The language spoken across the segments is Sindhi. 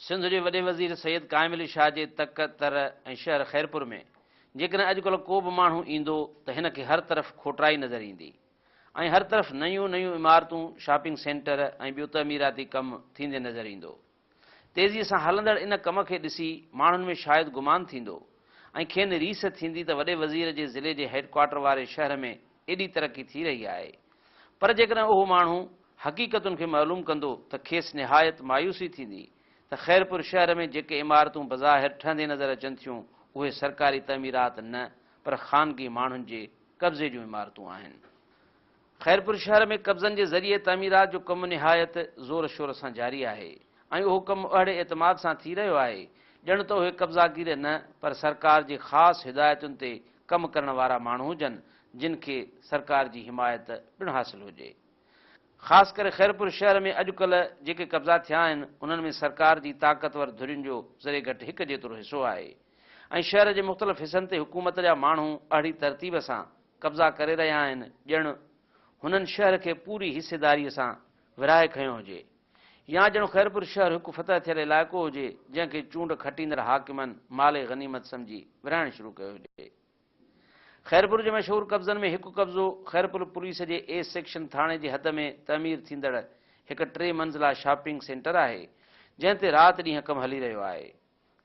سنڌ جي وڏي وزير سيد قائم علي شاهه جي تڪ تر ۽ شهر خيرپور ۾ جيڪڏهن اڄڪلهه ڪو به ماڻهو ايندو ته هن کي هر طرف کوٽرائي نظر ايندي ۽ هر طرف نيون نيون عمارتون، شاپنگ سينٽر ۽ ٻيو تعميراتي ڪم ٿيندي نظر ايندو. تيزي سان هلندڙ ان ڪم کي ڏسي ماڻهن ۾ شايد گمان ٿيندو ۽ کين ريس ٿيندي ته وڏي وزير جي ضلعي جي هيڊڪوارٽر واري شهر ۾ ايڏي ترقي ٿي رهي آهي پر جيڪڏهن اهو ماڻهو حقيقتن کي معلوم ڪندو ته کيس نهايت مايوسي ٿيندي ته خيرپور شهر ۾ جيڪي عمارتون بظاهر ٺهندي نظر اچن ٿيون اهي سرڪاري تعميرات نه پر خانگي ماڻهن جي قبضي جون عمارتون آهن خيرپور شهر ۾ قبضن جي ذريعي تعميرات جو ڪم نهايت زور شور سان جاري آهي ۽ اهو ڪم اهڙي اعتماد سان ٿي رهيو آهي ڄڻ ته اهي قبضاگير نه پر سرڪار جي خاص هدايتن تي ڪم ڪرڻ وارا ماڻهو هجن جن کي سرڪار جي حمايت پڻ حاصل هجي خاص ڪري خيرپور شهر ۾ اڄڪلهه جيڪي قبضا ٿيا آهن انهن ۾ سرڪار جي طاقتور ڌرين جو ذري گهٽ هڪ جيترو حصو آهي ۽ شهر جي مختلف حصن تي حڪومت جا ماڻهو اهڙي ترتيب سان قبضا ڪري رهيا آهن ڄڻ هنن شهر کي پوري حصيداري سان ورهائي کنيو هجي يا ڄڻ خيرپور شهر هڪ فتح ٿيل علائقو هجي جنهن کي چونڊ کٽيندڙ حاڪمن مال غنيمت سمجهي ورهائڻ شروع ڪيو هجي. خيرپور جي مشهور قبضن ۾ هڪ قبضو خيرپور پوليس جي اي سيڪشن ٿاڻي جي حد ۾ تعمير ٿيندڙ هڪ ٽي منزلا شاپنگ سينٽر آهي جنهن تي رات ڏينهن ڪم هلي رهيو آهي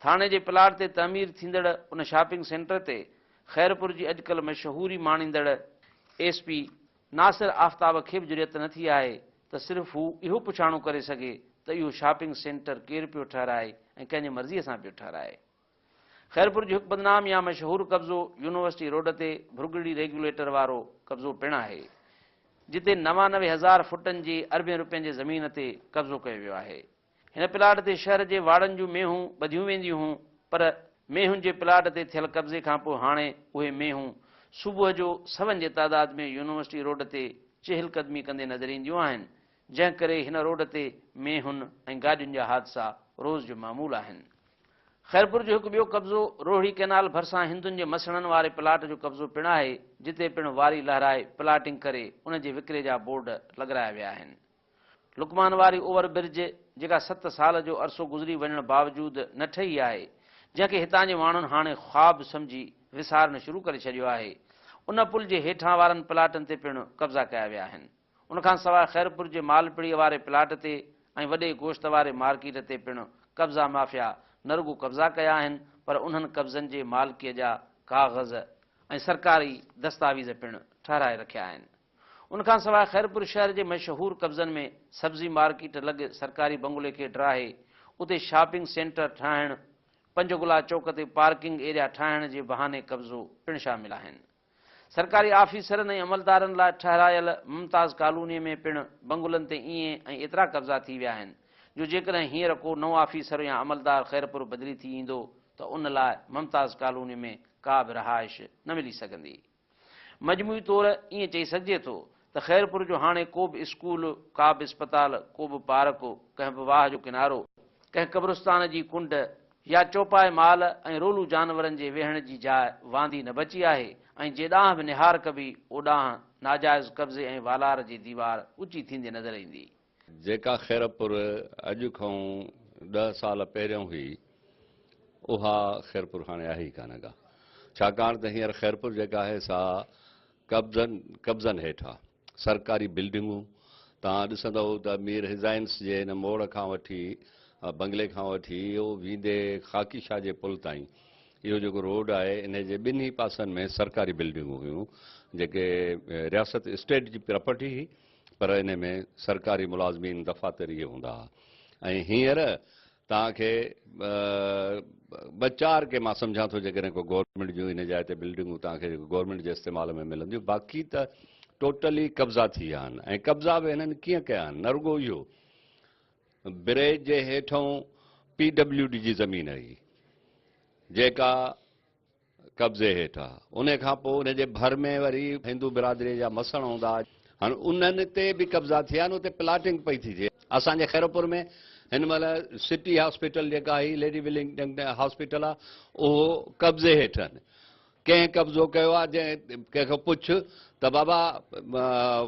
ٿاڻي جي پلاٽ تي تعمير ٿيندڙ ان شاپنگ سينٽر تي خيرپور جي اڄڪلهه مشهوري ماڻيندڙ ايس پي ناصر آفتاب کي به جرئت نه ٿي آهي ته صرف هو اهو پڇاڻو ڪري سگهي ته اهو شاپنگ سينٽر ڪير پيو ٺهرائي ۽ ڪنهن جي مرضيء سان پيو ٺهرائي. خيرپور جو هڪ بدنام يا مشهور قبضو يونيورسٽي روڊ تي ڀرڳڙي ريگيوليٽر وارو قبضو پڻ آهي، جتي نوانوي هزار فوٽن جي اربين روپين جي زمين تي قبضو ڪيو ويو آهي. هن پلاٽ تي شهر جي واڙن جون مينهون ٻڌيون وينديون هون پر مينهن جي پلاٽ تي ٿيل قبضي کانپوء هاڻي اهي مينهون صبح جو سون جي تعداد ۾ يونيورسٽي روڊ تي چهل قدمي ڪندي نظر اينديون آهن جنهن ڪري هن روڊ تي مينهن ۽ گاڏين جا حادثا روز جو معمول آهن. خيرپور جو هڪ ٻيو قبضو روهڙي ڪئنال ڀرسان هندن جي مسڻن واري پلاٽ جو قبضو پڻ آهي جتي پڻ واري لهرائي پلاٽنگ ڪري ان جي وڪري جا بورڊ لڳرايا ويا آهن لقمان واري اوور برج، جيڪا ست سال جو عرصو گذري وڃڻ باوجود نه ٺهي آهي، جنهن کي هتان جي ماڻهن هاڻي خواب سمجهي وسارڻ شروع ڪري ڇڏيو آهي، ان پل جي هيٺان وارن پلاٽن تي پڻ قبضا ڪيا ويا آهن. ان کان سواء خيرپور جي مالپڙي واري پلاٽ تي ۽ وڏي گوشت واري مارڪيٽ تي پڻ قبضا مافيا نه رڳو قبضا ڪيا آهن پر انهن قبضن جي مالڪيء جا ڪاغذ ۽ سرڪاري دستاويز پڻ ٺهرائي رکيا آهن. ان کان سواء خيرپور شهر جي مشهور قبضن ۾ سبزي مارڪيٽ لڳ سرڪاري بنگلي کي ڊاهي اتي شاپنگ سينٽر ٺاهڻ، پنجگلا چوڪ تي پارڪنگ ايريا ٺاهڻ جي بهاني قبضو پڻ شامل آهن. سرڪاري آفيسرن ۽ عملدارن لاء ٺهرايل ممتاز ڪالوني ۾ پڻ بنگلن تي اين ۽ ايترا قبضا ٿي ويا آهن جو جيڪڏهن هينئر ڪو نئون آفيسر يا عملدار خيرپور بدلي ٿي ايندو ته ان لاء ممتاز ڪالوني ۾ ڪا به رهائش نه ملي سگهندي. مجموعي طور ائين چئي سگهجي ٿو ته خيرپور جو هاڻي ڪو به اسڪول، ڪا به اسپتال، ڪو به پارڪ، ڪنهن به واهه جو ڪنارو، ڪنهن قبرستان جي ڪنڊ يا چوپائي مال ۽ رولو جانورن جي ويهڻ جي جاء واندي نه بچي آهي ۽ جي ڏانهن به نهار ڪبي اوڏانهن ناجائز قبضي ۽ والار جي ديوار اوچي ٿيندي نظر ايندي. جيڪا خيرپور اڄ کئون ڏهه سال پهريون هئي اها خيرپور هاڻي آهي ئي ڪانه ڪا ڇاڪاڻ ته هينئر خيرپور جيڪا آهي سا قبضن قبضن هيٺ آ سرڪاري بلڊنگون توهان ڏسندئو ته مير هزائنس جي ان موڙ کان وٺي بنگلي کان وٺي اهو ويندي خاڪي شاهه جي پل تائين اهو جيڪو روڊ آهي انهي جي ٻنهي پاسن ۾ سرڪاري بلڊنگون هيون جيڪي رياست اسٽيٽ جي پراپرٽي هئي پر انهي ۾ سرڪاري ملازمين دفاتر ئي هوندا ها ۽ هينئر توهان کي ٻه چار ڪي مان سمجهان ٿو جيڪڏهن ڪو گورنمينٽ جون انهي جاء تي بلڊنگون توهان کي جيڪو گورنمينٽ جي استعمال ۾ ملنديون باقي ته ٽوٽل ئي قبضا ٿي ويا آهن ۽ قبضا به هنن ڪيئن ڪيا آهن نه رڳو اهو بريج جي هيٺئون پي ڊبليو ڊي جي زمين هئي جيڪا قبضي هيٺ آ ان کان پو ان جي ڀر ۾ وري هندو برادري جا مسڻ هوندا هن انهن تي به قبضا ٿيا آهن اتي پلاٽنگ پئي ٿي ٿئي اسان جي خيرپور ۾ هن مهل سٽي هاسپيٽل جيڪا هي ليڊي ولنگ هاسپيٽل آ اهو قبضي هيٺ آهن ڪنهن قبضو ڪيو آ جنهن ڪنهن کان پڇ ته بابا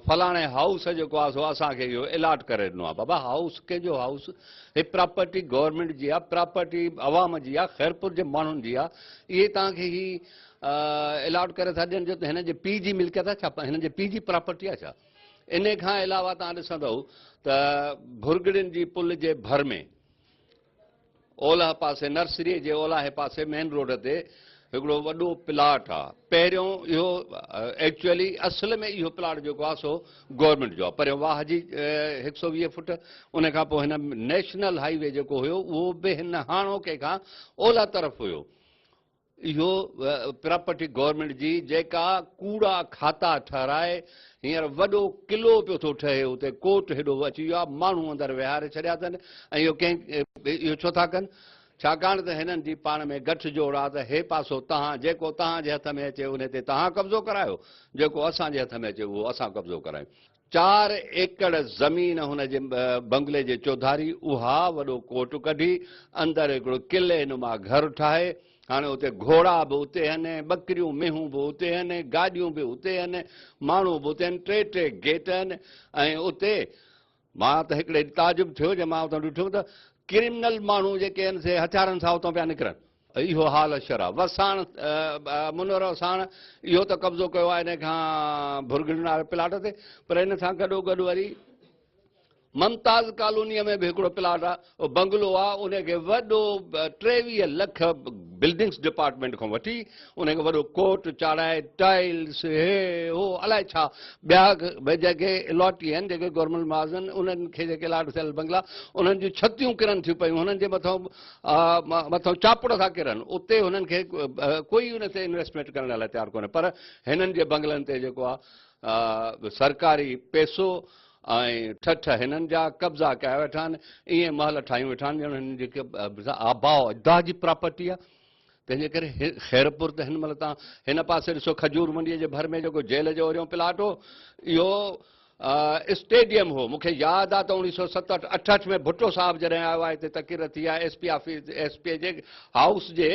فلاڻي هائوس جيڪو آهي سو اسان کي اهو الاٽ ڪري ڏنو آهي. بابا هائوس ڪنهن جو هائوس؟ هي پراپرٽي گورنمينٽ جي آهي، پراپرٽي عوام جي آهي، خيرپور جي ماڻهن جي آهي. اهي توهان کي هي الاٽ ڪري ٿا ڏين جو هن جي پيء جي ملڪيت آهي ڇا؟ هن جي پيء جي پراپرٽي آهي ڇا؟ انهي کان علاوه توهان ڏسندؤ ته ڀرڳڙين جي پل جي ڀر ۾ اولهه پاسي نرسريء جي اولاهي پاسي مين روڊ تي هڪڙو وڏو پلاٽ آ پهريون اهو ايڪچوئلي اصل ۾ اهو پلاٽ جيڪو آ سو گورنمينٽ جو آ پريون واهه جي هڪ سؤ ويهه فوٽ ان کان پوء هن نيشنل هائي وي جيڪو هيو اهو به هن هاڻوڪي کان اولهه طرف هيو اهو پراپرٽي گورنمينٽ جي جيڪا ڪوڙا کاتا ٺهرائي هينئر وڏو قلعو پيو ٿو ٺهي اتي ڪوٽ هيڏو اچي ويو آهي ماڻهو اندر ويهاري ڇڏيا اٿن ۽ اهو ڪنهن اهو ڇو ٿا ڪن ڇاڪاڻ ته هنن جي پاڻ ۾ گٺ جوڙ آهي ته هي پاسو تهان جيڪو تهان جي هٿ ۾ اچي ان تي تهان قبضو ڪرايو جيڪو اسان جي هٿ ۾ اچي اهو اسان قبضو ڪرايون چار ايڪڙ زمين هن جي بنگلي جي چوڌاري اها وڏو ڪوٽ ڪڍي، اندر هڪڙو قلعي نما گهر ٺاهي. هاڻي اتي گهوڙا به اتي هن، ٻڪريون مينهون به اتي هن، گاڏيون به اتي هن، ماڻهو به اتي هن، ٽي ٽي گيٽ هن ۽ اتي مان ته هڪڙي ڏينهن تعجب ٿيو جڏهن مان اتان ڏٺم ته ڪرمنل ماڻهو جيڪي هن سي هٿيارن سان اتان پيا نڪرن. اهو حال شرح وس ساڻ منورو ساڻ اهو ته قبضو ڪيو آهي ان کان ڀرگڙن واري پلاٽ تي پر ان سان گڏو گڏ وري ممتاز ڪالونيء ۾ به هڪڙو پلاٽ آهي بنگلو آهي ان کي وڏو ٽيويهه لک بلڊنگس ڊپارٽمينٽ کان وٺي ان کي وڏو ڪوٽ چاڙهائي ٽائلس هي هو الائي ڇا ٻيا جيڪي الاٽي آهن جيڪي گورنمينٽ معاذن انهن کي جيڪي الاٽ ٿيل بنگلا انهن جون ڇتيون ڪرن ٿيون پيون هنن جي مٿان مٿان چاپڙ ٿا ڪرن اتي هنن کي ڪوئي ان تي انويسٽمينٽ ڪرڻ لاء تيار ڪونهي پر هنن جي بنگلن تي جيڪو آهي سرڪاري پيسو ۽ ٺٺ هنن جا قبضا ڪيا ويٺا آهن ائين محل ٺاهيون ويٺا آهن ڄڻ هنن جي آباء اجداد جي پراپرٽي آهي تنهن جي ڪري خيرپور ته هن مهل تان هن پاسي ڏسو کجور منڊيء جي ڀر ۾ جيڪو جيل جو اوريون پلاٽ هو، اهو اسٽيڊيم هو. مون کي ياد آ ته اوڻيهه سؤ ست اٺ اٺهٺ ۾ ڀٽو صاحب جڏهن آيو آ هتي تقرر ٿي آ S P office S P جي هائوس جي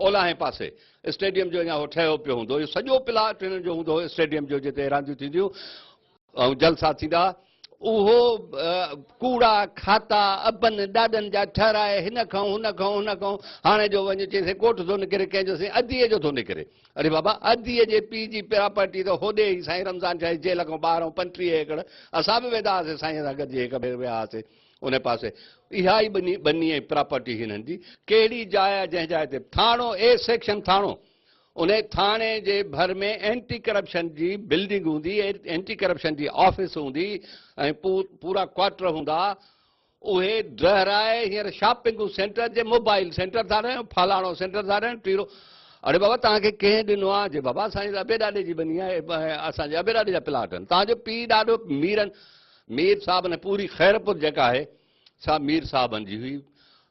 اولاهين پاسي اسٽيڊيم جو اڃا هو ٺهيو پيو هوندو. اهو سڄو پلاٽ هنن جو هوندو هو اسٽيڊيم جو جتي رانديون ٿينديون ۽ جلسا ٿيندا، اهو ڪوڙا کاتا ابن ڏاڏن جا ٺهرائي هن کئون هن کئون هن کئون هاڻي جو وڃ چئين سائين ڪوٽ ٿو نڪري ڪنهن جو سائين ادي جو ٿو نڪري اڙي بابا ادي جي پي جي پراپرٽي ته هوڏي ئي سائين رمضان شاهه جي جيل کئون ٻاهر ۽ پنٽيهه ايڪڙ اسان به ويندا هئاسين سائين سان گڏجي هڪ ڀير ويا هئاسين ان پاسي اها ئي ٻني ٻني ۽ پراپرٽي هنن جي ڪهڙي جاء جنهن جاء تي ٿاڻو اي سيڪشن ٿاڻو ان ٿاڻي جي ڀر ۾ اينٽي ڪرپشن جي بلڊنگ هوندي، اينٽي ڪرپشن جي آفيس هوندي ۽ پورا ڪوارٽر هوندا. اهي ڊهرائي هينئر شاپنگون سينٽر جي موبائل سينٽر ٿا ٺاهيون، فلاڻو سينٽر ٿا ٺاهيون، ٽيڙو. اڙي بابا توهان کي ڪنهن ڏنو آهي؟ جي بابا اسان جي ته ابي ڏاڏي جي ٻني آهي، اسان جي ابي ڏاڏي جا پلاٽ آهن، توهان جو پيء ڏاڏو ميرن، مير صاحبن ۽ پوري خيرپور جيڪا آهي سا مير صاحبن جي هئي.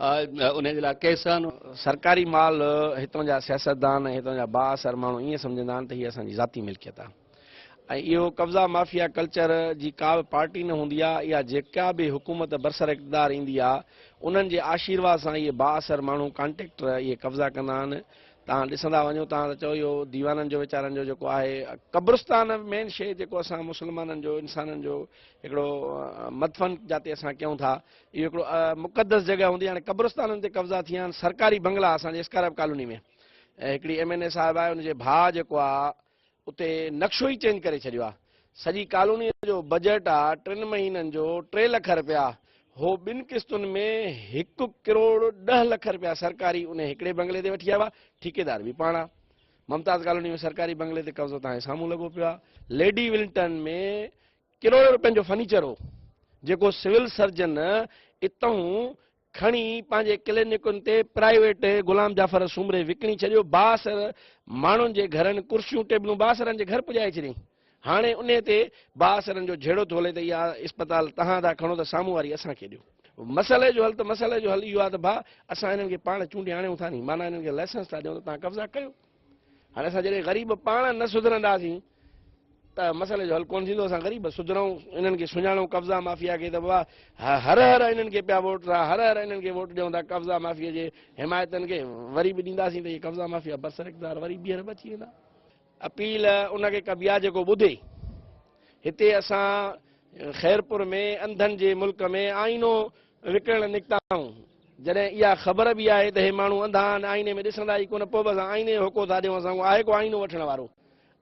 انهيء جي لاء ڪيسن. سرڪاري مال هتان جا سياستدان ۽ هتان جا بااثر ماڻهو ائين سمجهندا آهن ته هي اسان جي ذاتي ملڪيت آهي ۽ اهو قبضا مافيا ڪلچر جي ڪا به پارٽي نه هوندي آهي يا جيڪا به حڪومت برسراقتدار ايندي آهي انهن جي آشيرواد سان اهي بااثر ماڻهو ڪانٽيڪٽر اهي قبضا ڪندا آهن تان ڏسندا وڃو تان ته چئو اهو ديوانن جو ويچارن جو جيڪو آهي قبرستان مين شيء جيڪو اسان مسلمانن جو انسانن جو هڪڙو مدفن جاتي اسان ڪيون ٿا اهو هڪڙو مقدس جڳهه هوندي هاڻي قبرستانن تي قبضا ٿي ويا آهن سرڪاري بنگلا اسان جي اسڪارائب ڪالوني ۾ هڪڙي ايم اين اي صاحب آهي ان جي ڀاء جيڪو آهي اتي نقشو ئي چينج ڪري ڇڏيو آهي سڄي ڪالوني جو بجيٽ آهي ٽن مهينن جو ٽي لک رپيا هو ٻن قسطن ۾ هڪ ڪروڙ ڏه لک رپيا سرڪاري ان هڪڙي بنگلي تي وٺي آيا هئا ٺيڪيدار به پاڻ آهي ممتاز ڪالوني ۾ سرڪاري بنگلي تي قبضو تان سامهون لڳو پيو آهي ليڊي ولنٽن ۾ ڪروڙين روپين جو فرنيچر هو، جيڪو سول سرجن اتهون کڻي پنهنجي ڪلينڪن تي پرائيويٽ غلام جعفر سومري وڪڻي ڇڏيو، بااثر ماڻهن جي گهرن ڪرسيون ٽيبلون بااثرن جي گهر پڄائي ڇڏيائين. هاڻي انهي تي بااثرن جو جهيڙو ٿو هلي ته اها اسپتال تهان ٿا کڻو ته سامهون واري اسان کي ڏيو. مسئلي جو حل ته مسئلي جو حل اهو آهي ته ڀا اسان هنن کي پاڻ چونڊي آڻيون ٿا ني، معنيٰ هنن کي لائسنس ٿا ڏيون ته تهان قبضا ڪيو. هاڻي اسان جڏهن غريب پاڻ نه سڌرنداسين ته مسئلي جو حل ڪونه ٿيندو اسان غريب سڌرون انهن کي سڃاڻون قبضا مافيا کي ته بابا هر هر انهن کي پيا ووٽ ٿا هر هر انهن کي ووٽ ڏيون ٿا قبضا مافيا جي حمايتن کي وري به ڏينداسين ته اهي قبضا مافيا برسر اقدار وري ٻيهر به اچي ويندا اپيل ان کي ڪبي آ جيڪو ٻڌي هتي اسان خيرپور ۾ انڌن جي ملڪ ۾ آئينو وڪڻڻ نڪتائون. جڏهن اها خبر به آهي ته هي ماڻهو انڌا آهن، آئيني ۾ ڏسندا ئي ڪونه، پوء به اسان آئيني جو هوڪو ٿا ڏيون، اسان کان آهي ڪو آئينو وٺڻ وارو؟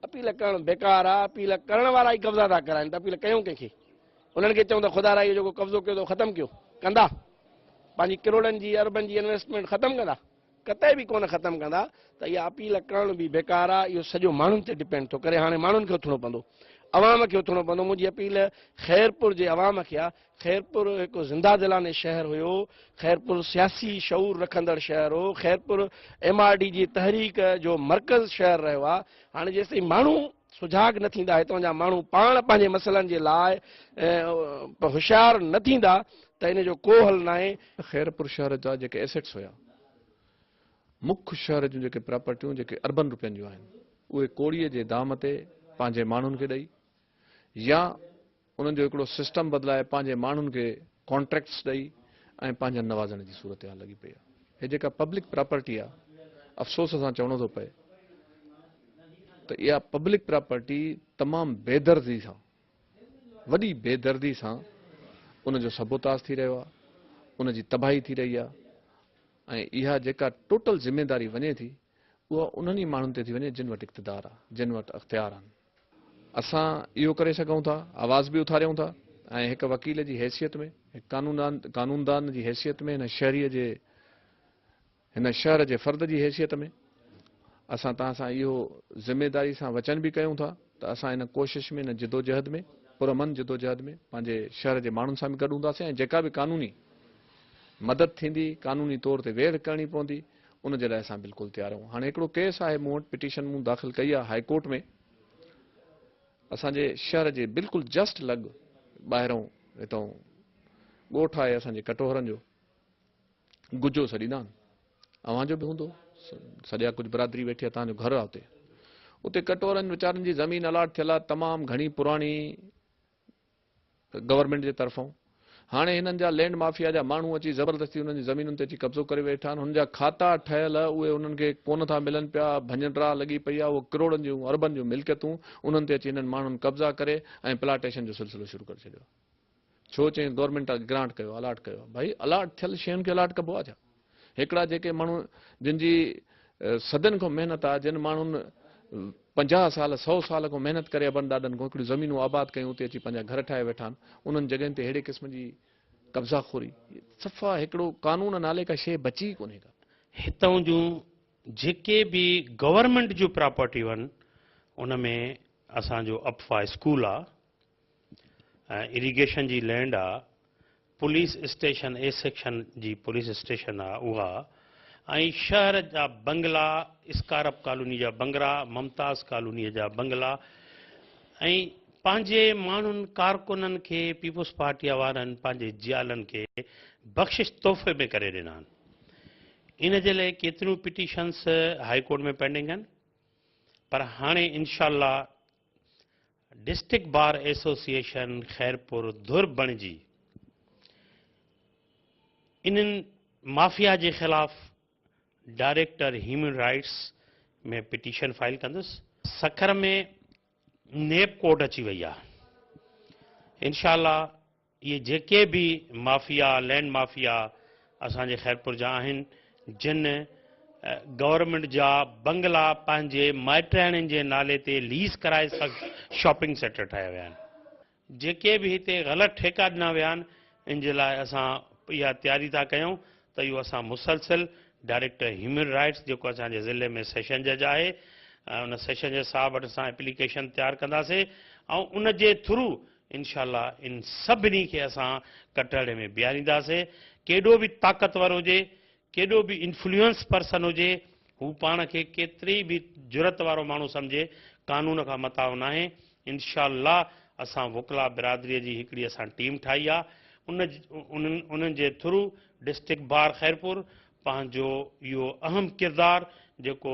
اپيل ڪرڻ بيڪار آهي، اپيل ڪرڻ وارا ئي قبضا ٿا ڪرائين ته اپيل ڪيون ڪنهن کي؟ انهن کي چئون ته خدا را اهو جيڪو قبضو ڪيو اٿو ختم ڪيو، ڪندا؟ پنهنجي ڪروڙن جي، اربن جي انويسٽمينٽ ختم ڪندا؟ قطعي به ڪونه ختم ڪندا ته اها اپيل ڪرڻ به بيڪار آهي اهو سڄو ماڻهن تي ڊپينڊ ٿو ڪري هاڻي ماڻهن کي اٿڻو پوندو عوام کي اٿڻو پوندو منهنجي اپيل خيرپور جي عوام کي آهي خيرپور هڪ زنده دلانه شهر هيو خيرپور سياسي شعور رکندڙ شهر هو خيرپور ايم آر ڊي جي تحريڪ جو مرڪز شهر رهيو آهي هاڻي جيستائين ماڻهو سجاڳ نه ٿيندا، هتان جا ماڻهو پاڻ پنهنجي مسئلن جي لاء هوشيار نه ٿيندا ته ان جو ڪو حل ناهي. خيرپور شهر جا جيڪي ايسيٽس هيا، مک شهر جون جيڪي پراپرٽيون جيڪي اربن روپين جون آهن، اهي ڪوڙيء جي دام تي پنهنجي ماڻهن کي ڏئي يا انهن جو هڪڙو سسٽم بدلائي پنهنجي ماڻهن کي ڪانٽريڪٽس ڏئي ۽ پنهنجن نوازڻ جي صورتحال لڳي پئي آهي هي جيڪا پبلڪ پراپرٽي آهي افسوس سان چوڻو ٿو پئي ته اها پبلڪ پراپرٽي تمام بيدردي سان وڏي بيدردي سان ان جو سبوتاز ٿي رهيو آهي ان جي تباهي ٿي رهي آهي ۽ اها جيڪا ٽوٽل ذميواري وڃي ٿي اها انهن ئي ماڻهن تي ٿي وڃي جن وٽ اقتدار آهي جن وٽ اختيار آهن اسان اهو ڪري سگهون ٿا، آواز به اٿاريون ٿا ۽ هڪ وڪيل جي حيثيت ۾، هڪ قانوندان جي حيثيت ۾، هن شهريء جي، هن شهر جي فرد جي حيثيت ۾ اسان توهان سان اهو ذميواري سان وچن به ڪيون ٿا ته اسان ان ڪوشش ۾، ان جدوجهد ۾، پرامن جدوجهد ۾، پنهنجي شهر جي ماڻهن سان به گڏ هونداسين ۽ جيڪا به قانوني مدد ٿيندي، قانوني طور تي ويڙهه ڪرڻي پوندي، ان جي لاء اسان بلڪل تيار آهيون هاڻي هڪڙو ڪيس آهي مون وٽ پٽيشن مون داخل ڪئي آهي هاء ڪورٽ ۾ اسان جي شهر جي بلڪل جسٽ لڳ ٻاهرون هتو ڳوٺ آهي اسان جي ڪٽوهرن جو گجو سڏيندا آهن اوهان جو به هوندو سڄا ڪجهه برادري ويٺي آهي تهان جو گهر آهي اتي اتي ڪٽورن ويچارن جي زمين الاٽ ٿيل آهي تمام گهڻي پراڻي گورنمينٽ جي طرفان هاڻي هنن جا لينڊ مافيا جا ماڻهو اچي زبردستي انهن جي زمينن تي اچي قبضو ڪري ويٺا آهن هن جا کاتا ٺهيل اهي انهن کي ڪونه ٿا ملن پيا ڀڃنڊرا لڳي پئي آهي اهو ڪروڙن جون اربن جون ملڪيتون انهن تي اچي هنن ماڻهن قبضا ڪري ۽ پلاٽيشن جو سلسلو شروع ڪري ڇڏيو آهي ڇو چين گورنمينٽ گرانٽ ڪيو الاٽ ڪيو آهي ڀائي الاٽ ٿيل شين کي الاٽ ڪبو آهي ڇا هڪڙا جيڪي ماڻهو جن جي صدين کان محنت آ، جن ماڻهن پنجاهه سال، سؤ سال کان محنت ڪري ابن ڏاڏن کان هڪڙيون زمينون آباد ڪيون اتي اچي پنهنجا گهر ٺاهي ويٺا آهن، انهن جڳهين تي ههڙي قسم جي قبضا خوري، صفا هڪڙو قانون نالي ڪا شيء بچي ئي ڪونهي ڪا. هتان جون جيڪي به گورنمينٽ جون پراپرٽيون آهن ان ۾ اسان جو اپفا اسڪول آ. ۽ اريگيشن جي لينڊ آ، پوليس اسٽيشن اي سيڪشن جي پوليس اسٽيشن آ اها ۽ شهر جا بنگلا اسڪارپ ڪالوني جا بنگلا، ممتاز ڪالوني جا بنگلا ۽ پنهنجي ماڻهن ڪارڪنن کي پيپلز پارٽيء وارن پنهنجي جيالن کي بخشش تحفي ۾ ڪري ڏنا آهن. ان جي لئي ڪيتريون پٽيشنز هائي ڪورٽ ۾ پينڊنگ آهن پر هاڻي انشاء الله ڊسٽرڪٽ بار ايسوسيئيشن خيرپور ڌر بڻجي انهن مافيا جي خلاف director human rights ۾ petition file ڪندس سکر ۾ نيب ڪورٽ اچي وئي آهي انشاء الله اهي جيڪي به مافيا، لينڊ مافيا اسان جي خيرپور جا آهن جن گورنمينٽ جا بنگلا پنهنجي مائٽياڻين جي نالي تي ليز ڪرائي سخت شاپنگ سيٽر ٺاهيا ويا آهن. جيڪي به هتي غلط ٺيڪا ڏنا ويا آهن ان جي لاء اسان اها تياري ٿا ڪيون ته اهو اسان مسلسل ڊائريڪٽر هيومن رائيٽس جيڪو اسان جي ضلعي ۾ سيشن جج آهي ان سيشن جج صاحب وٽ اسان اپليڪيشن تيار ڪنداسين ۽ ان جي ٿرو انشاء الله ان سڀني کي اسان ڪٽهڙي ۾ بيهارينداسين، ڪيڏو به طاقتور هجي، ڪيڏو به انفلوئنس پرسن هجي، هو پاڻ کي ڪيتري به جرئت وارو ماڻهو سمجهي، قانون کان متاو ناهي، انشاء الله اسان وڪلا برادري جي هڪڙي اسان ٽيم ٺاهي آ، ان انهن جي ٿرو ڊسٽرڪٽ بار خيرپور، پنهنجو اهو اهم ڪردار جيڪو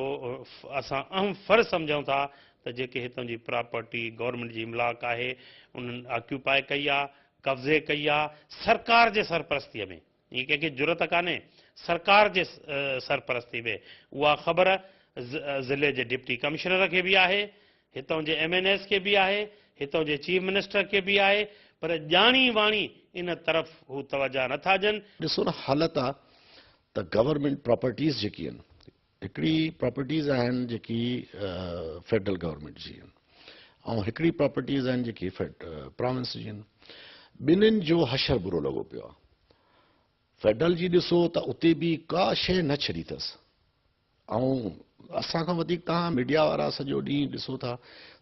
اسان اهم فرض سمجهون ٿا ته جيڪي هتان جي پراپرٽي گورنمينٽ جي املاڪ آهي انهن آڪيوپاء ڪئي آ قبضي ڪئي آ سرڪار جي سرپرستي ۾ ائين ڪنهن کي جرئت ڪانهي سرڪار جي سرپرستي ۾ اها خبر ضلعي جي ڊپٽي ڪمشنر کي به آهي هتان جي ايم اين ايز کي به آهي، هتان جي چيف منسٽر کي به آهي پر ڄاڻي واڻي ان طرف هو توجهه نه ٿا ڏين. ڏسو نه حالت آ ته گورنمينٽ پراپرٽيز جيڪي آهن هڪڙي پراپرٽيز آهن جيڪي فيڊرل گورنمينٽ جي آهن ۽ هڪڙي پراپرٽيز آهن جيڪي پراونس جي آهن ٻنهن جو حشر برو لڳو پيو آ فيڊرل جي ڏسو ته اتي به ڪا شيء نه ڇڏي ٿس. ۽ اسان کان وڌيڪ توهان ميڊيا وارا سڄو ڏينهن ڏسو ٿا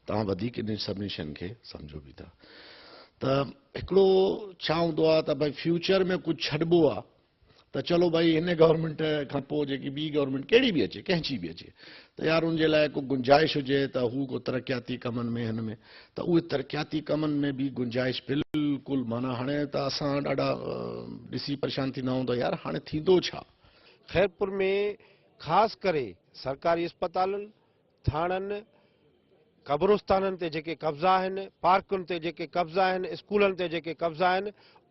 توهان وڌيڪ انهن سڀني شين کي سمجهو به ٿا ته هڪڙو ڇا هوندو آهي ته ڀاء فيوچر ۾ ڪجهه ڇڏبو آهي ته چلو ڀاء هن گورنمينٽ کان پوء جيڪي ٻي گورنمينٽ ڪهڙي به اچي ڪنهن جي به اچي ته يار ان جي لاء ڪو گنجائش هجي ته هو ڪو ترقياتي ڪمن ۾ هن ۾ ته اهي ترقياتي ڪمن ۾ به گنجائش بلڪل معنيٰ هاڻي ته اسان ڏاڍا ڏسي پريشان ٿيندا آهيون ته يار هاڻي ٿيندو ڇا خيرپور ۾ خاص ڪري سرڪاري اسپتالن، ٿاڻن، قبرستانن تي جيڪي قبضا آهن، پارڪن تي جيڪي قبضا آهن، اسڪولن تي جيڪي قبضا آهن،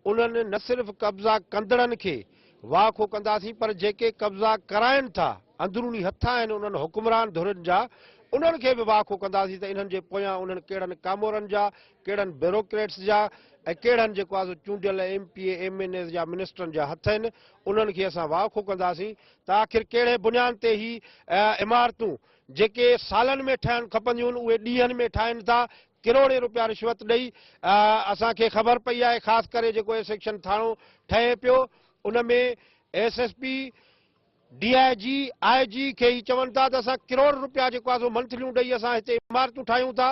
انهن نه صرف قبضا ڪندڙن کي واهه کو ڪنداسين پر جيڪي قبضا ڪرائين ٿا، اندروني هٿ آهن انهن حڪمران ڌرين جا، انهن کي به واهه کو ڪنداسين ته انهن جي پويان انهن ڪيڙن ڪامورن جا ڪهڙن بيوروڪريٽس جا ۽ ڪهڙن جيڪو آهي سو چونڊيل M P A M N As جا منسٽرن جا هٿ آهن انهن کي اسان واء کون ڪنداسين ته آخر ڪهڙي بنيان تي هي عمارتون جيڪي سالن ۾ ٺهڻ کپنديون اهي ڏينهن ۾ ٺاهين ٿا ڪروڙين روپيا رشوت ڏئي اسان کي خبر پئي آهي خاص ڪري جيڪو اي سيڪشن ٿاڻو ٺهي پيو ان ۾ S S P D I G, I G کي هي چون ٿا ته اسان ڪروڙ رپيا جيڪو آهي سو منٿليون ڏئي اسان هتي عمارتون ٺاهيون ٿا،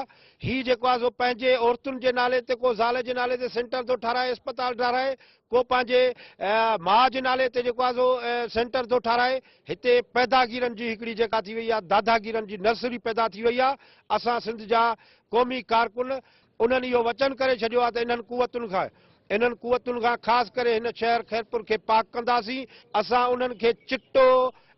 هي جيڪو آهي سو پنهنجي عورتن جي نالي تي ڪو زال جي نالي تي سينٽر ٿو ٺاهرائي اسپتال ٺاهرائي، ڪو پنهنجي ماء جي نالي تي جيڪو آهي سو سينٽر ٿو ٺاهرائي، هتي پيداگيرن جي هڪڙي جيڪا ٿي وئي آهي داداگيرن جي نرسري پيدا ٿي وئي آهي، اسان سنڌ جا قومي ڪارڪن انهن اهو وچن ڪري ڇڏيو آهي ته انهن قوتن کان انهن قوتن کان خاص ڪري هن شهر خيرپور کي پاڪ ڪنداسين، اسان انهن کي چٽو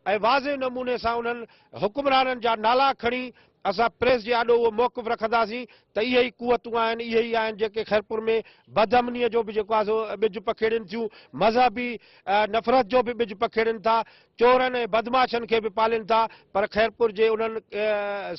۽ واضح نموني سان انهن حڪمرانن جا نالا کڻي اسان پريس جي آڏو اهو موقف رکنداسين ته اهي ئي قوتون آهن اهي ئي آهن جيڪي خيرپور ۾ بد امنيء جو به جيڪو آهي سو ٻج پکيڙين ٿيون، مذهبي نفرت جو به ٻج پکيڙين ٿا، چورن ۽ بدمعاشن کي به پالين ٿا پر خيرپور جي انهن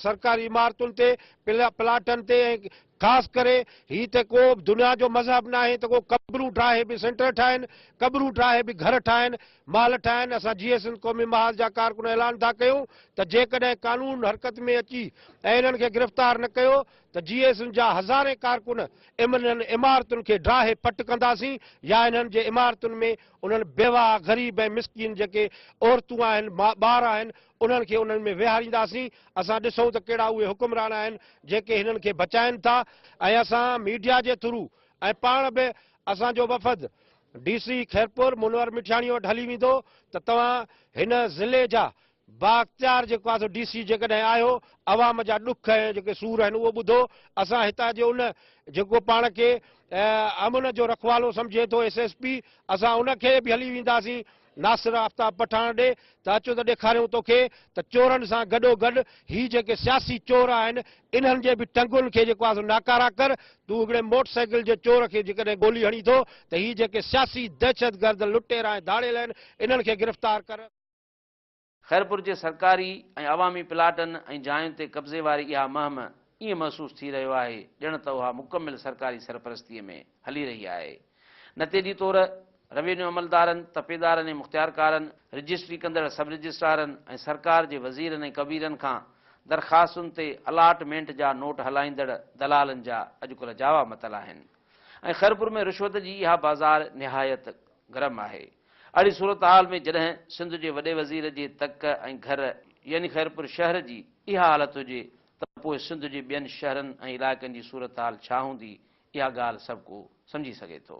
سرڪاري عمارتن تي پلاٽن تي ۽ خاص ڪري هي ته ڪو دنيا جو مذهب ناهي ته ڪو قبرون ٺاهي به سينٽر ٺاهين، قبرون ٺاهي به گهر ٺاهين، محل ٺاهين، اسان جيئي سنڌ قومي محاذ جا ڪارڪن اعلان ٿا ڪيون ته جيڪڏهن قانون حرڪت ۾ اچي ۽ انهن کي گرفتار نه ڪيو ته جيئي سنڌ جا هزارين ڪارڪن انهن عمارتن کي ڊاهي پٽ ڪنداسين يا انهن جي عمارتن ۾ انهن بيواهه، غريب ۽ مسڪين جيڪي عورتون آهن، ٻار آهن انهن کي انهن ۾ ويهارينداسين، اسان ڏسون ته ڪهڙا اهي حڪمران آهن جيڪي هنن کي بچائين ٿا ۽ اسان ميڊيا جي ٿرو ۽ پاڻ به اسان جو وفد ڊي سي خيرپور منور مٺياڻي وٽ هلي ويندو ته توهان هن ضلعي جا بااختيار جيڪو آهي سو ڊي سي جيڪڏهن آهيو عوام جا ڏک ۽ جيڪي سور آهن اهو ٻڌو اسان هتان جي ان جيڪو پاڻ کي امن جو رکوالو سمجهي ٿو ايس ايس پي اسان ان کي به هلي وينداسين ناصر آفتاب پٺاڻ ڏي ته اچ ته ڏيکاريون توکي ته چورن سان گڏو گڏ هي جيڪي سياسي چور آهن انهن جي به ٽنگن کي جيڪو آهي سو ناڪارا ڪر تون هڪڙي موٽر سائيڪل جي چور کي جيڪڏهن گولي هڻي ٿو ته هي جيڪي سياسي دهشتگرد لٽيرا ۽ ڌاڙيل آهن انهن کي گرفتار ڪر. خيرپور جي سرڪاري ۽ عوامي پلاٽن ۽ جاين تي قبضي واري اها مهم ائين محسوس ٿي رهيو آهي ڄڻ ته اها مڪمل سرڪاري سرپرستيء ۾ هلي رهي آهي. نتيجي طور روينيو عملدارن، تپيدارن ۽ مختيارڪارن، رجسٽري ڪندڙ سب رجسٽرارن ۽ سرڪار جي وزيرن ۽ ڪبيرن کان درخواستن تي الاٽ مينٽ جا نوٽ هلائيندڙ دلالن جا اڄڪلهه جاوا متل آهن ۽ خيرپور ۾ رشوت جي اها بازار نهايت گرم آهي. اھڙي صورتحال ۾ جڏھن سنڌ جي وڏي وزير جي تڪ ۽ گھر يعني خيرپور شھر جي اھا حالت ھجي ته پوء سنڌ جي ٻين شھرن ۽ علائقن جي صورتحال ڇا ھوندي اھا ڳالھ سڀ ڪو سمجھي سگھي ٿو.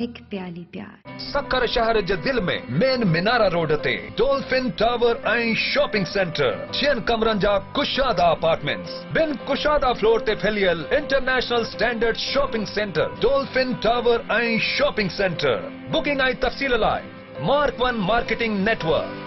هڪ پيالي پيار. سکر شهر جي دل ۾ مين منارا روڊ تي ڊولفن ٽاور ۽ شاپنگ سينٽر، ڇهن ڪمرن جا ڪشادا اپارٽمينٽس، ٻن ڪشادا فلور تي ڦهليل international standard shopping centre Dolphin tower ۽ shopping centre, booking ۽ تفصيل لاء Mark One Marketing Network.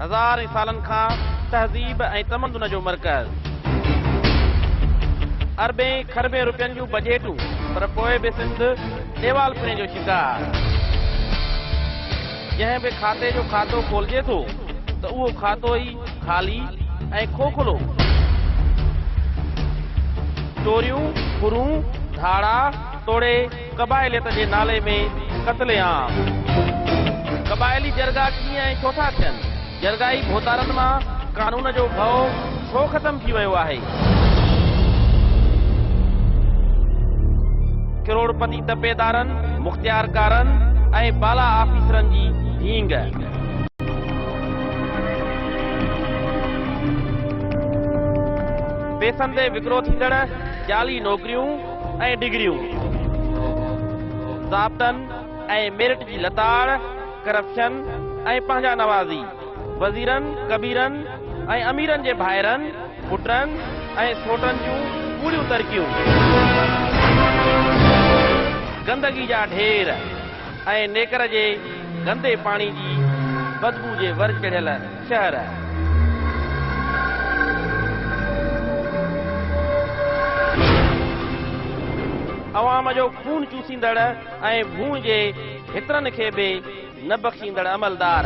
هزارين سالن کان تهذيب ۽ تمدن جو مرڪز. اربين کربين روپين جون بجيٽون پر پوء به سنڌ ڏيوالپڻي جو شڪار. جنهن به کاتي جو کاتو کولجي ٿو ته اهو کاتو ئي خالي ۽ کوکلو. چوريون، ڦرون، ڌاڙا توڙي قبائليت جي نالي ۾ قتل عام. قبائلي جرڳا ڪيئن ۽ ڇو ٿا ٿين؟ جرڳائي ڀوتارن مان قانون جو ڀؤ ڇو ختم ٿي ويو آهي؟ ڪروڙپتي تپيدارن، مختيارڪارن ۽ بالا آفيسرن جي ڍينگ. پيسن تي وڪرو ٿيندڙ جعلي نوڪريون. ۽ ڊگريون ضابطن ۽ ميرٽ جي لتاڙ، ڪرپشن ۽ پنهنجا نوازي، وزيرن، ڪبيرن ۽ اميرن جي ڀائرن، پٽن ۽ سوٽن جون ڪوڙيون ترڪيون، گندگي جا ڍير ۽ نيڪر جي گندي پاڻي جي بدبو جي ور چڙهيل، شهر. عوام جو خون چوسيندڙ ۽ ڀونء جي هترن کي به نه بخشيندڙ عملدار.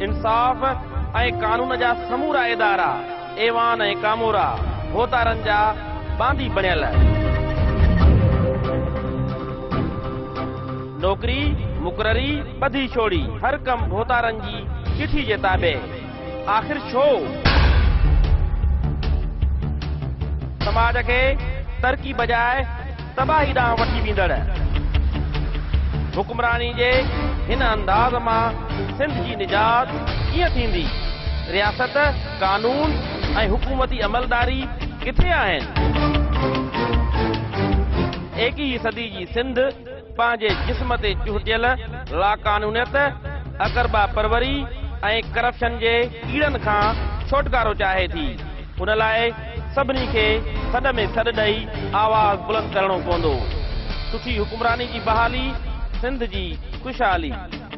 انصاف ۽ قانون جا سمورا ادارا. ايوان ۽ ڪامورا ڀوتارن جا باندي بڻيل. نوڪري، مقرري، ٻڌي ڇوڙي، هر ڪم ڀوتارن جي چٺي جي تابع. آخر ڇو؟ سماج کي ترقي بجاء تباهي ڏانهن وٺي ويندڙ حڪمراني جي هن انداز مان سنڌ جي نجات ڪيئن ٿيندي؟ رياست. قانون ۽ حڪومتي عملداري ڪٿي آهن؟ ايڪيهين صدي جي سنڌ پنهنجي جسم تي چهٽيل لاقانونيت، اقربا پروري ۽ ڪرپشن جي ڪيڙن کان ڇوٽڪارو چاهي ٿي. ان لاء سڀني کي سڏ ۾ سڏ ڏئي آواز بلند ڪرڻو پوندو. سٺي حڪمراني جي بحالي سنڌ جي خوشحالي.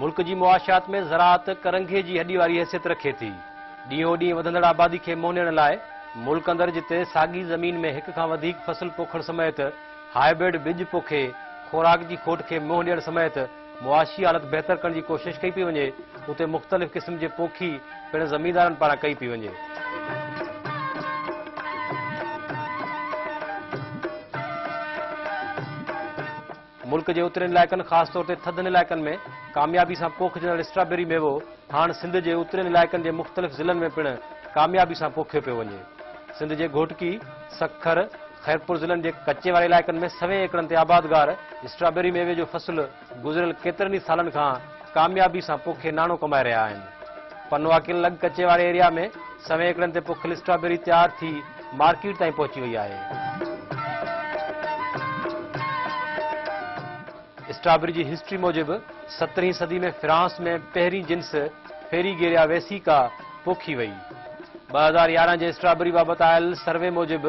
ملڪ جي معاشيات ۾ زراعت ڪرنگهي جي هڏي واري حيثيت رکي ٿي. ڏينهون ڏينهن وڌندڙ آبادي کي مونيڻ لاء ملڪ اندر جتي ساڳي زمين ۾ هڪ کان وڌيڪ فصل پوکڻ سميت هائبرڊ ٻج پوکي خوراڪ جي کوٽ کي منهن ڏيڻ سميت معاشي حالت بهتر ڪرڻ جي ڪوشش ڪئي پئي وڃي، اتي مختلف قسم جي پوکي پڻ زميندارن پاران ڪئي پئي وڃي. ملڪ جي اترين علائقن خاص طور تي ٿڌن علائقن ۾ ڪاميابي سان پوکجندڙ اسٽرابيري ميوو ڌاڻ سنڌ جي اترين علائقن جي مختلف ضلعن ۾ پڻ ڪاميابي سان پوکيو پيو وڃي. سنڌ جي گهوٽڪي، سکر، خيرپور ضلعن جي ڪچي واري علائقن ۾ سوين ايڪڙن تي آبادگار اسٽرابيري ميوي جو فصل گذريل ڪيترن ئي سالن کان ڪاميابي سان پوکي ناڻو ڪمائي رهيا آهن. پنواڪين لڳ ڪچي واري ايريا ۾ سوين ايڪڙن تي پوکيل اسٽرابيري تيار ٿي مارڪيٽ تائين پهچي وئي آهي. اسٽرابري جي هسٽري موجب سترهين صدي ۾ فرانس ۾ پهرين جنس فيريگيريا ويسيڪا پوکي وئي. ٻه هزار يارهن جي اسٽرابري بابت آيل سروي موجب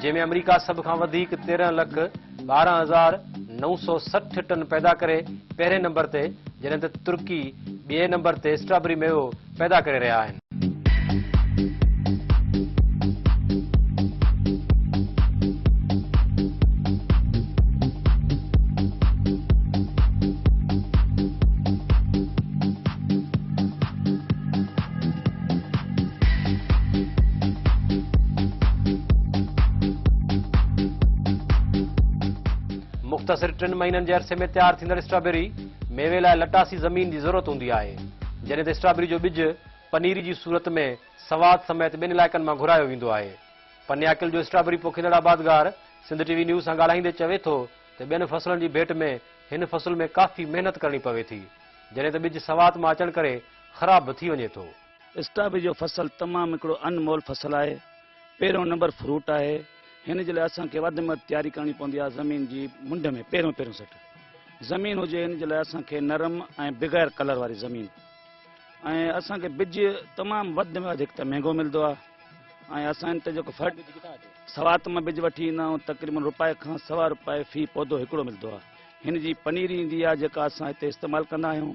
جنهن ۾ آمريڪا سڀ کان وڌيڪ تيرهن لک ٻارهن هزار نو سؤ سٺ ٽن پيدا ڪري پهرين نمبر تي جڏهن ته ترڪي ٻئي نمبر تي اسٽرابري ميوو پيدا ڪري رهيا آهن. مختصر ٽن مهينن جي عرصي ۾ تيار ٿيندڙ اسٽرابيري ميوي لاء لٽاسي زمين جي ضرورت هوندي آهي. جڏهن ته اسٽرابري جو ٻج پنيري جي صورت ۾ سوات سميت ٻين علائقن مان گهرايو ويندو آهي. پنياڪل جو اسٽرابري پوکيندڙ آبادگار سنڌ ٽي وي نيوز سان ڳالهائيندي چوي ٿو ته ٻين فصلن جي ڀيٽ ۾ هن فصل ۾ ڪافي محنت ڪرڻي پوي ٿي جڏهن ته ٻج سوات مان اچڻ ڪري خراب به ٿي وڃي ٿو. اسٽرابري جو فصل تمام هڪڙو انمول فصل آهي. پهريون نمبر فروٽ آهي. هن جي لاء اسان کي وڌ ۾ وڌ تياري ڪرڻي پوندي آهي زمين جي منڍ ۾ پهريون پهريون سٽ زمين هجي ان جي لاء اسان کي نرم ۽ بغير ڪلر واري زمين ۽ اسان کي بج تمام وڌ ۾ وڌ هڪ ته مهنگو ملندو آهي ۽ اسان ان تي جيڪو فرٽ سوات مان بج وٺي ايندا آهيون تقريبن روپائي کان سوا روپائي في پودو هڪڙو ملندو آهي هن جي پنيري ايندي آهي جيڪا اسان هتي استعمال ڪندا آهيون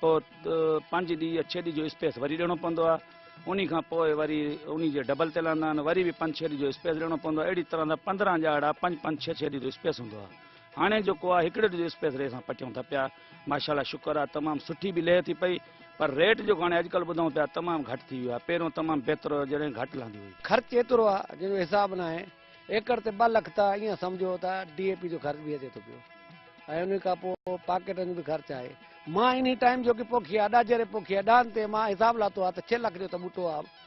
پوء پنج ڏينهن يا ڇهه ڏينهن جو اسپيس وري ڏيڻو پوندو آهي انهي کان پوء وري انهي جي ڊبل تي لهندا آهن وري به پنج ڇهه ڏينهن جو اسپيس ڏيڻو پوندو آهي اهڙي طرح سان پندرهن ڄاڙا پنج پنج ڇهه ڇهه ڏينهن جو اسپيس هوندو آهي هاڻي جيڪو آهي هڪڙي ڏينهن جو اسپيس ري سان پٽيون ٿا پيا ماشاءالله شڪر آهي تمام سٺي به لهي ٿي پئي پر ريٽ جيڪو هاڻي اڄڪلهه ٻڌون پيا تمام گهٽ ٿي ويو آهي پهريون تمام بهتر هو جڏهن گهٽ لهندي هئي خرچ ايترو آهي جنهن جو حساب ناهي ايڪڙ تي ٻه لک ته ائين سمجهو ته ڊي اي پي جو خرچ به اچي ٿو پيو ۽ انهي کان پوء پاڪيٽن جو به خرچ آهي مان انهي ٽائيم جوڪي پوکي آهي اڏا جيري پوکي آهي ڏاهن تي مان حساب لاتو آهي ته ڇهه لک جو ته ٻوٽو آهي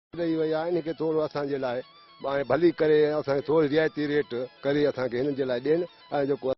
ڏئي وئي آهي انهن کي ٿورو اسان جي لاء ڀلي ڪري ۽ اسان کي ٿوري رعايتي ريٽ ڪري اسان کي هنن جي لاء ڏين ۽ جيڪو